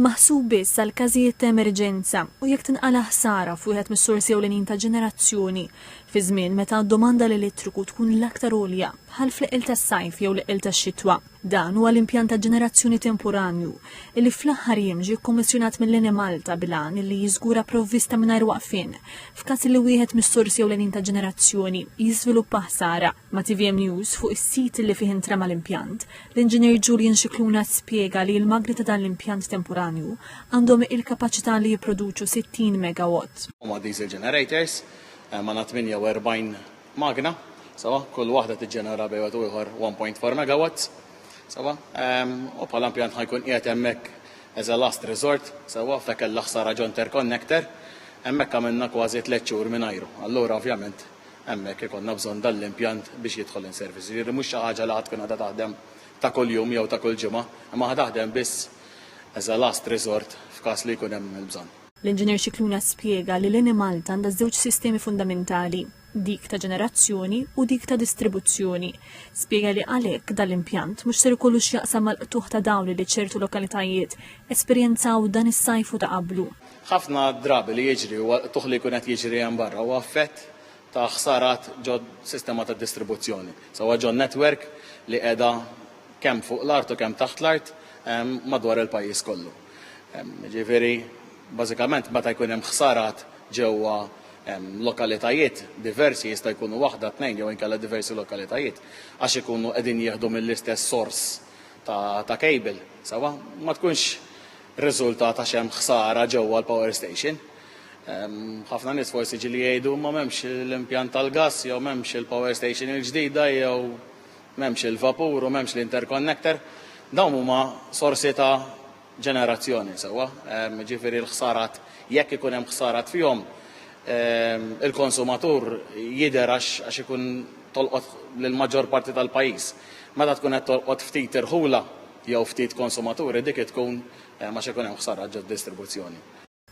maħsub biss għal każijiet ta' emerġenza u jekk tinqala' ħsara f'wieħed mis-sorsi ewlenin ta' ġenerazzjoni, fi żmien meta d-domanda l-elettriku tkun l-aktar għolja, bħal fl-eqqel tas-sajf jew l-eqqel tax-xitwa. Dan huwa l-impjant ta' ġenerazzjoni temporanju, li fl-aħħar jiem ġie kkommissjonat mill-Enemalta bil-għan li jiżgura provvista mingħajr waqfien f'każ li wieħed mis-sorsi ewlenin ta' ġenerazzjoni jiżviluppa ħsara. Ma' tvm News fuq is-sit li fih intrema l-impjant, l-Inġinier Julian Scicluna spjega li l-magni ta' dan l-impjant temporanju għandhom il-kapaċità li jipproduċu 60 megawatt. Huma diesel generators, għandna 48 magna, sewwa, kull waħda tiġġenera bejn wieħed u ieħor 1.4 megawatts, sewwa, u bħala impjant ħa jkun qiegħed hemmhekk as a last resort, sewwa, f'hekk il-ħsara ġo interconnector, hemmhekk għamilna kważi tliet xhur mingħajru. Allura ovvjament hemmhekk ikollna bżonn dan l-impjant biex jidħol in service. Jiġifieri mhux xi ħaġa li ħa tkun qiegħda taħdem ta' kuljum jew ta' kull ġimgħa, imma ħa taħdem biss as a last resort f'każ li jkun hemm il-bżonn. L-Inġinier Scicluna spjega li l-Enemalta għandha żewġ sistemi fundamentali, dik ta' ġenerazzjoni u dik ta' distribuzzjoni. Spjega li għalhekk dan l-impjant mhux ser ikollu x'jaqsam mal-qtugħ ta' dawl li ċertu lokalitajiet esperjenzaw dan is-sajf u ta' qablu. Ħafna drabi li jiġri huwa t-tuħ li jkun qed jiġri hemm barra huwa effett ta' ħsarat ġos-sistema ta' distribuzzjoni, sewwa ġon-netwerk li qiegħda kemm fuq l-art u kemm taħt l-art madwar il-pajjiż kollu. Jiġifieri, bażikament meta jkun hemm ħsarat ġewwa lokalitajiet diversi, jista' jkunu waħda, tnejn jew inkella diversi lokalitajiet, għax ikunu qegħdin jieħdu mill-istess sors ta' kejbil, sewwa, ma tkunx rriżultat għax hemm ħsara ġewwa l-power station. Ħafna nies forsi ġili jgħidu ma m'hemmx l-impjant tal-gass jew m'hemmx il-power station il-ġdida jew m'hemmx il-vapur u m'hemmx l-interconnector. Dawn huma sorsi ta' ġenerazzjoni sewwa, ġifieri l-ħsarat jekk ikun hemm ħsarat fihom il-konsumatur jidher għax ikun tolqot lill-maġġor parti tal-pajjiż. Meta tkun qed tolqot ftit irħula jew ftit konsumaturi dik hi tkun għax ikun hemm ħsara ġod-distribuzzjoni.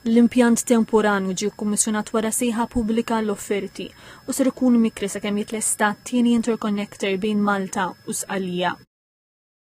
L-impjant temporanju ġie kkummissjonat wara sejħa pubblika għall-offerti u ser ikun mikri sakemm jitlesta t-tieni interconnector bejn Malta u Sqallija.